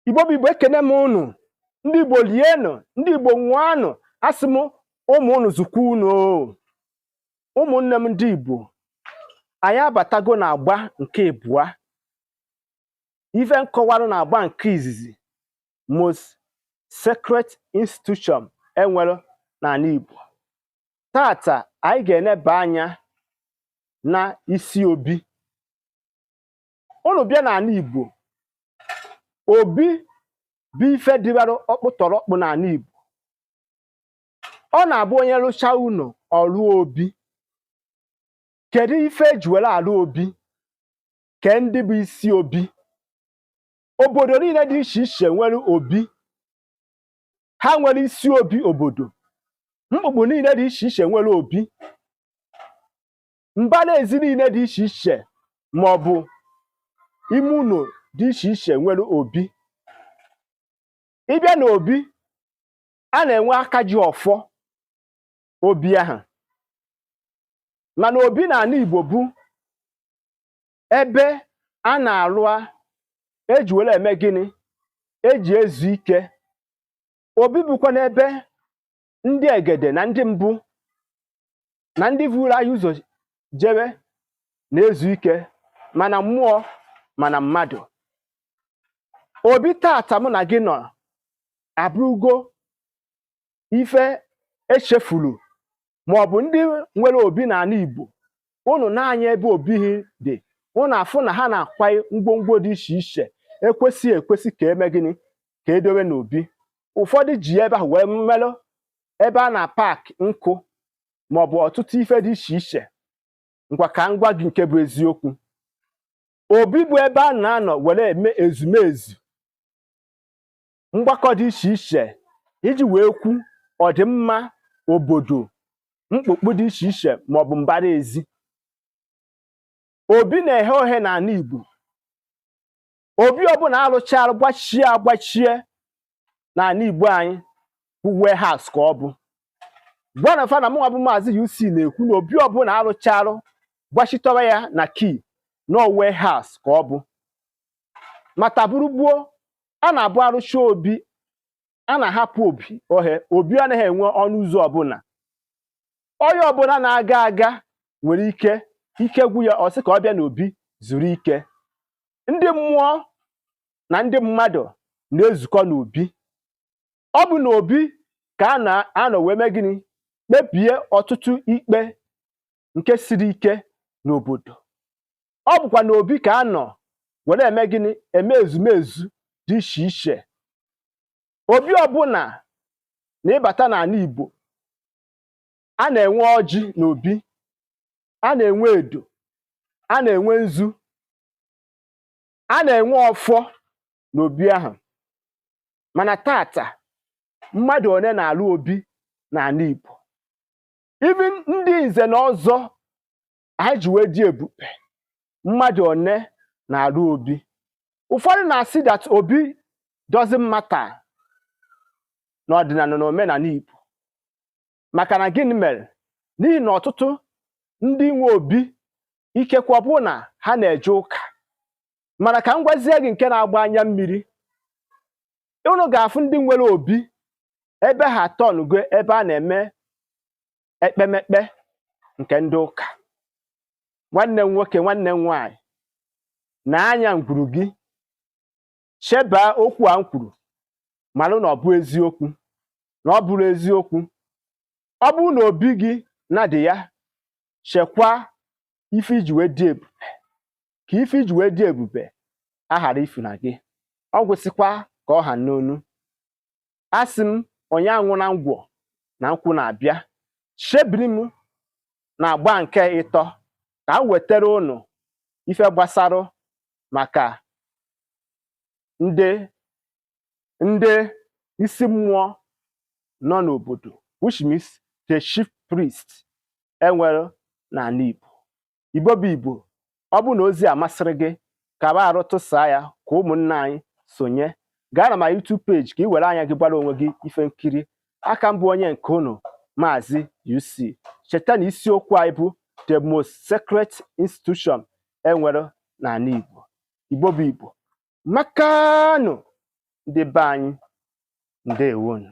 igbo bụ igbo ekene m ụnụ ndị igbo lienụ ndị igbo nwụanụ asị m ụmụ ụnụ zụkwa ụnụ ụmụnne m ndị igbo anyị abatago na agba nke ịbụa ife m kọwarụ na agba nke izizi most sacred institution enwere n'ala igbo tata anyị ga-eneba anya na isi obi ụnụ bịa n'ala Igbo obi bụ ife dịbara ọkpụtọrọkpụ n'ala Igbo ọ na-abụ onye rụchaa ụlọ ọ rụọ obi kedu ife eji were alụ obi ke ndị bụ isi obi obodo niile dị iche iche nwere obi ha nwere isi obi obodo mkpukpu niile dị iche iche nwere obi mbara ezi niile dị iche iche ma ọ bụ ime ụlọ dị iche iche nwere obi ị bịa na obi a na-enwe aka ji ọfọ obi ahụ mana obi na ala Igbo bụ ebe a na-alụ eji were eme gịnị eji ezu ike obi bụkwanụ ebe ndị egede na ndị mbụ na ndị vuru anyị ụzọ jewe na-ezu ike ma na mmụọ ma na mmadụ obi tata mụ na gị nọ abụrụgo ife echefuru ma ọ bụ ndị nwere obi n'ala Igbo ụnụ nee anya ebe obi ha dị ụnụ afụ na ha na-akwanye ngwongwo dị iche iche ekwesị ekwesị ka eme gịnị ka edowe n'obi ụfọdụ ji ebe ahụ wee melụ ebe a na-apak nkụ ma ọ bụ ọtụtụ ife dị iche iche ngwa ka m gwa gị nke bụ eziokwu obi bụ ebe a na-anọ were eme ezumezu mgbakọ dị iche iche iji wee kwu ọdịmma obodo mkpukpu dị iche iche ma ọ bụ mbara ezi obi na-eghe oghe n'ala Igbo obi ọbụla alụcharụ gbachie agbachie n'ala Igbo anyị bụ warehouse ka ọ bụ gwanụ fa na mụnwa bụ maazị UC na-ekwu na obi ọbụla alụcharụ gbachitọrọ ya na key na warehouse ka ọ bụ ma taa bụrụ gboo ọ na-abụ arụcha obi a na-ahapụ obi ohe obi anaghị enwe ọnụ ụzọ ọbụla onye ọbụla na-aga aga nwere ike ike gwụ ya ọ sị ka ọ bịa n'obi zuru ike ndị mmụọ na ndị mmadụ na-ezukọ n'obi ọ bụ n'obi ka a na-anọ wee mee gịnị kpebie ọtụtụ ikpe nke siri ike n'obodo ọ bụkwa n'obi ka a nọ were eme gịnị eme ezumezu dị iche iche obi ọbụla na ị bata n'ala Igbo a na-enwe ọjị n'obi a na-enwe edo a na-enwe nzu a na-enwe ọfọ n'obi ahụ mana taata mmadụ one na-alụ obi n'ala Igbo even ndị nze na ọzọ anyị ji wee dị ebube mmadụ one na-alụ obi ụfọdụ na-asị that obi doesn't matter n'ọdịnala na omenala Igbo maka na gịnị mere n'ihi na ọtụtụ ndị nwe obi ikekwe bụ na ha na-eje ụka mana ka m gwazie gị nke na-agba anya mmiri unu ga-afụ ndị nwere obi ebe ha tọnụgo ebe a na-eme ekpemekpe nke ndị ụka nwanne m nwoke nwanne m nwaanyị na anya ngwuru gị chebaa okwu a m kwuru malụ na ọ bụ eziokwu na ọ bụrụ eziokwu ọ bụrụ na obi gị na-adị ya chekwaa ife i ji wee dị ebube ka ife i ji wee dị ebube aghara ifuna gị ọ gwụsịkwa ka ọ ha m n'ọnụ asị m onye anwụna ngwọ na nkwụ na-abịa chebiri m na agba nke ịtọ ka m wetara unu ife gbasara maka ndị ndị isi mmụọ nọ n'obodo which means the chief priest e nwere n'ala Igbo Igbo bụ Igbo ọ bụrụ na ozi a masịrị gị ka ba arụ tụsaa ya ka ụmụnna anyị sonye gaa na my YouTube page ka ị were anya gị gbara onwe gị ife nkiri aka m bụ onye nke unu maazị UC cheta na isiokwu anyị bụ the most sacred institution e nwere n'ala Igbo Igbo bụ Igbo makanụ ndị be anyị ndewonu